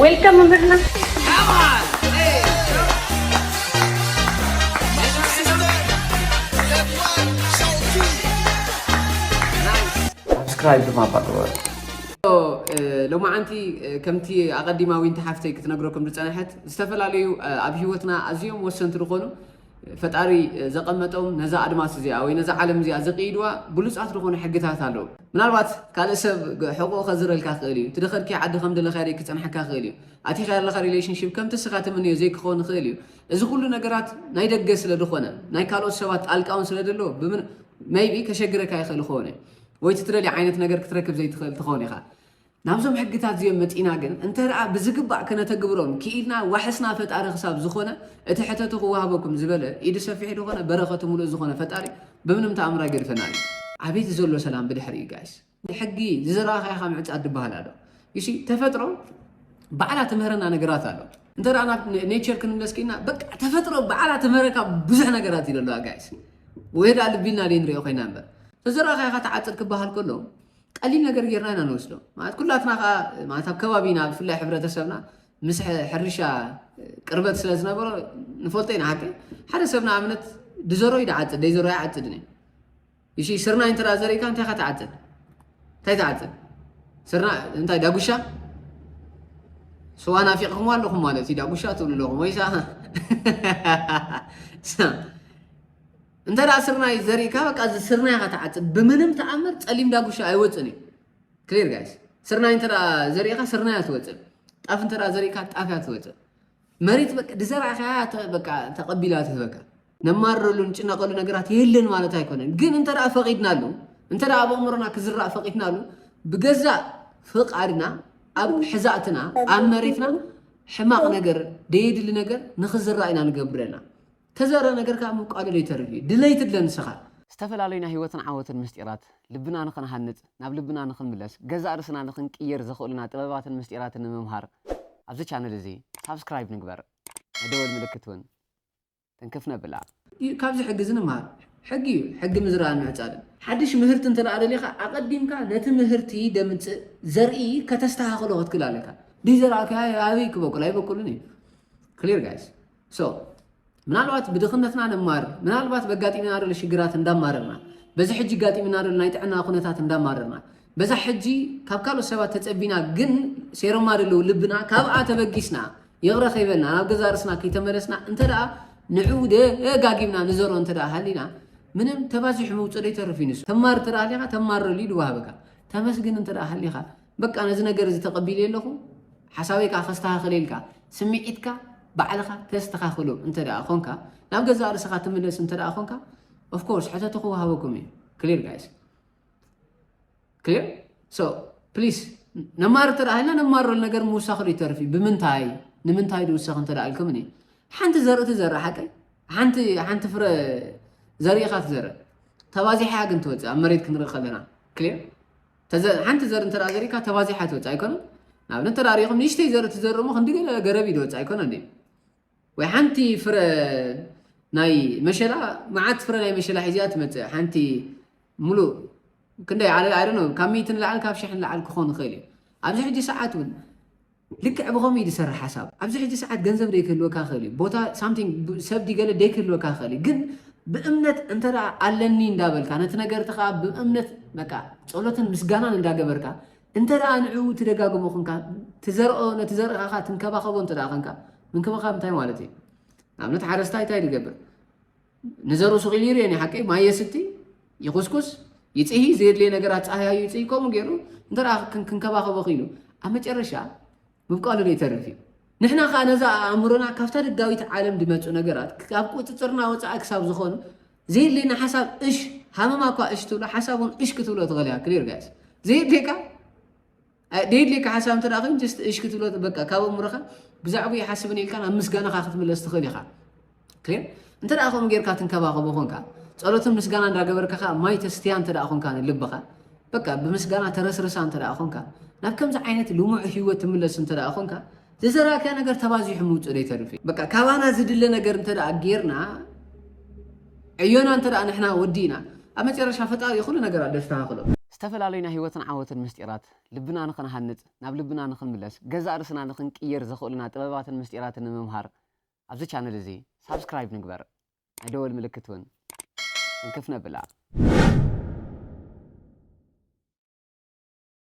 ዌልካም መምህርና ሳብስክራይብ ድማ እባ ግበሩ። ሎማዓንቲ ከምቲ ኣቐዲማ ዊንቲ ሓፍተይ ክትነግረኩም ዝፀነሐት ዝተፈላለዩ ኣብ ሂወትና ኣዝዮም ወሰንቲ ዝኾኑ ፈጣሪ ዘቐመጦም ነዛ ኣድማስ እዚኣ ወይ ነዛ ዓለም እዚኣ ዝቕይድዋ ብሉፃት ዝኾኑ ሕግታት ኣለዉ። ምናልባት ካልእ ሰብ ሕቕኡ ከዝረልካ ክእል እዩ። ትደኸድካዮ ዓዲ ከም ደለኻዮ ደይክፀንሐካ ክእል እዩ። ኣቲኻዮ ኣለኻ ሪሌሽንሺፕ ከምቲ እስኻ ትምነዮ ዘይክኸውን ይኽእል እዩ። እዚ ኩሉ ነገራት ናይ ደገ ስለ ዝኾነ ናይ ካልኦት ሰባት ጣልቃ እውን ስለ ደሎ ሜይቢ ከሸግረካ ይኽእል ይኸውን እዩ። ወይ እቲ ትደልዮ ዓይነት ነገር ክትረክብ ዘይትኽእል ትኸውን ኢኻ። ናብዞም ሕግታት እዚኦም መጺእና ግን እንተደኣ ብዝግባእ ከነተግብሮም ክኢልና ዋሕስና ፈጣሪ ክሳብ ዝኾነ እቲ ሕተቱ ክወሃበኩም ዝበለ ኢዱ ሰፊሕ ዝኾነ በረኸቱ ምሉእ ዝኾነ ፈጣሪ ብምንም ተኣምር ኣይገድፈናን እዩ። ኣቤት ዘሎ ሰላም ብድሕሪ እዩ ጋይስ ሕጊ ዝዘራእኻዮ ካብ ምዕጻድ ድበሃል ኣሎ ዩሲ ተፈጥሮ ባዕላ ትምህረና ነገራት ኣሎ እንተ ናብ ኔቸር ክንምለስ ክኢልና በቃ ተፈጥሮ ባዕላ ትምህረካ ብዙሕ ነገራት እዩ ኣለዋ ጋይስ ወይ ዳ ልቢልና ደይ ንሪኦ ኮይና እምበር ተዘራእኻዮ ተዓጽድ ክበሃል ከሎ ቀሊል ነገር ጌርና ኢና ንወስዶ ማለት ኩላትና ከዓ ማለት ኣብ ከባቢና ብፍላይ ሕብረተሰብና ምስ ሕርሻ ቅርበት ስለ ዝነበሮ ንፈልጦ ኢና ሓቂ ሓደ ሰብ ንኣብነት ድዘሮ እዩ ድዓፅድ ደይዘሮ ኣይዓፅድን እዩ እሺ ስርናይ እንተ ዘሪእካ እንታይ ካ ትዓፅድ እንታይ ትዓፅድ ስርና እንታይ ዳጉሻ ስዋ ናፊቕኹም ኣለኹም ማለት እዩ ዳጉሻ ትብሉ ኣለኹም ወይሳ እንተ ስርናይ ዘሪእካ በቃ እዚ ስርናይ ኢኻ ትዓጽድ ብምንም ተኣምር ጸሊም ዳጉሻ ኣይወጽን እዩ ክሊር ጋይስ ስርናይ እንተ ዘሪእኻ ስርናይ ኣትወጽእ ጣፍ እንተ ዘሪእካ ጣፍ እያ ትወጽእ መሬት በቃ ድዘራእካ በቃ ተቐቢላ ትህበካ ነማረሉ ንጭነቐሉ ነገራት የለን ማለት ኣይኮነን። ግን እንተ ደኣ ፈቒድናሉ እንተ ደኣ ኣብ ኣእምሮና ክዝራእ ፈቒድናሉ ብገዛእ ፍቓድና ኣብ ሕዛእትና ኣብ መሬትና ሕማቕ ነገር ደየድሊ ነገር ንኽዝራእ ኢና ንገብረና ተዘረ ነገር ከኣ ምብቃሉ ለይተርፍ እዩ። ድለይ ትድለ ንስኻ። ዝተፈላለዩ ናይ ህይወትን ዓወትን ምስጢራት ልብና ንኽንሃንጽ፣ ናብ ልብና ንኽንምለስ፣ ገዛእ ርእስና ንኽንቅይር ዘኽእሉና ጥበባትን ምስጢራትን ንምምሃር ኣብዚ ቻነል እዚ ሳብስክራይብ ንግበር። ናይ ደወል ምልክት እውን ትንክፍ ነብላ። እዩ ካብዚ ሕጊ እዚ ንምሃር። ሕጊ እዩ ሕጊ ምዝራእን ምዕጻድን። ሓድሽ ምህርቲ እንተ ደሊኻ ኣቐዲምካ ነቲ ምህርቲ ደምጽእ ዘርኢ ከተስተኻኽሎ ክትክል ኣለካ። ደይዘራእካዮ ኣበይ ክበቁል ኣይበቁልን እዩ። ክሊር ጋይስ። ሶ ምናልባት ብድኽነትና ነማርር፣ ምናልባት በጋጢምና ዘሎ ሽግራት እንዳማረርና፣ በዚ ሕጂ ጋጢምና ዘሎ ናይ ጥዕና ኩነታት እንዳማረርና፣ በዛ ሕጂ ካብ ካልኦት ሰባት ተጸቢና ግን ሴሮማ ደለዉ ልብና ካብኣ ተበጊስና ይቕረ ከይበልና ናብ ገዛ ርእስና ከይተመለስና እንተ ደኣ ንዕኡ ደጋጊምና ንዘሮ እንተ ደኣ ሃሊና ምንም ተባዚሑ ምውጽእ ዘይተርፍ እዩ ንሱ ተማር እንተ ደኣ ሃሊኻ ተማረሉ ኢሉ ወሃበካ ተመስግን እንተ ደኣ ሃሊኻ በቃ ነዚ ነገር እዚ ተቐቢለ ኣለኹ፣ ሓሳበይ ከዓ ከስተኻኽለ ኢልካ ስምዒትካ ባዕልኻ ተስተኻኽሎ እንተ ደኣ ኾንካ ናብ ገዛእ ርእስኻ ትምለስ እንተ ደኣ ኾንካ ኦፍኮርስ ሕተቱ ክወሃበኩም እዩ ክሊር ጋይስ ክሊር ሶ ፕሊስ ነማር እንተ ሃልና ነማረሉ ነገር ምውሳኽሉ ይተርፍ እዩ ብምንታይ ንምንታይ ድውሰኽ እንተ ኢልኩም እኒ ሓንቲ ዘርእቲ ዘረ ሓቂ ሓንቲ ሓንቲ ፍረ ዘሪእኻ ትዘረ ተባዚሓያ ግን ትወፅእ ኣብ መሬት ክንርኢ ከለና ክሊር ሓንቲ ዘርኢ እንተ ዘሪእካ ተባዚሓ ትወፅእ ኣይኮነን ንኣብነት እንተ ሪኢኹም ንእሽተይ ዘርኢ ትዘርእ እሞ ክንዲ ገለ ገረብ እዩ ዝወፅእ ኣይኮነን ድዩ ወይ ሓንቲ ፍረ ናይ መሸላ መዓት ፍረ ናይ መሸላ ሒዚያ ትመፅእ ሓንቲ ሙሉእ ክንደይ ዓለ ኣይደነ ካብ ሚእቲ ንላዕሊ ካብ ሽሕ ንላዕሊ ክኾን ይኽእል እዩ ኣብዚ ሕጂ ሰዓት እውን ልክዕ ብኸምኡ እዩ ዝሰርሕ ሓሳብ። ኣብዚ ሕጂ ሰዓት ገንዘብ ደይክህልወካ ይኽእል እዩ፣ ቦታ something ሰብ ድዩ ገለ ደይክህልወካ ይኽእል እዩ፣ ግን ብእምነት እንተ ኣለኒ እንዳበልካ ነቲ ነገርቲ ከኣ ብእምነት በቃ ጸሎትን ምስጋናን እንዳገበርካ እንተ ንዑ ትደጋግሞ ኹንካ ትዘርኦ ነቲ ዘርእኻኻ ትንከባኸቦ እንተ ኸንካ ምንክብኻብ እንታይ ማለት እዩ? ንኣብነት ሓረስታይ እንታይ ድገብር ንዘሩ ስቕ ኢሉ ይርኤን ሓቂ ማይ የስቲ ይኹስኩስ ይፅሂ ዘየድልየ ነገራት ፀሃያዩ ይፅሂ ከምኡ ገይሩ እንተ ክንከባኸቦ ክኢሉ ኣብ መጨረሻ ምብቃሉ ዶ ይተርፍ እዩ ንሕና ከዓ ነዛ ኣእምሮና ካብታ ደጋዊት ዓለም ዝመፁ ነገራት ካብ ቁፅፅርና ወፃኢ ክሳብ ዝኾኑ ዘየድልየና ሓሳብ እሽ ሃመማ እኳ እሽ ትብሎ ሓሳብ እውን እሽ ክትብሎ ትኽእል እያ ክሊር ጋይስ ዘየድልየካ ደየድልየካ ሓሳብ እንተ ኮይኑ ጀስት እሽ ክትብሎ በቃ ካብ ኣእምሮኻ ብዛዕባ ይሓስብን ኢልካን ኣብ ምስጋናኻ ክትምለስ ትኽእል ኢኻ ክሊር እንተ ደኣ ከምኡ ጌርካ ትንከባኸቦ ኮንካ ጸሎትን ምስጋና እንዳገበርካ ከ ማይ ተስትያ እንተ ደኣ ኮንካ ንልብኻ በቃ ብምስጋና ተረስርሳ እንተ ደኣ ኮንካ ናብ ከምዚ ዓይነት ልሙዕ ህይወት ትምለስ እንተ ደኣ ኮንካ ዝዘራእካዮ ነገር ተባዚሑ ምውፅእ ዘይተርፍ እዩ በቃ ካባና ዝድለ ነገር እንተ ጌርና ዕዮና እንተ ንሕና ወዲእና ኣብ መጨረሻ ፈጣሪ ይኹሉ ነገር ኣሎ ዝተኻኽሎ ዝተፈላለዩ ናይ ህይወትን ዓወትን ምስጢራት ልብና ንኽንሃንፅ ናብ ልብና ንኽንምለስ ገዛእ ርእስና ንኽንቅይር ዘኽእሉና ጥበባትን ምስጢራትን ንምምሃር ኣብዚ ቻነል እዚ ሳብስክራይብ ንግበር ናይ ደወል ምልክት እውን እንክፍ ነብላ።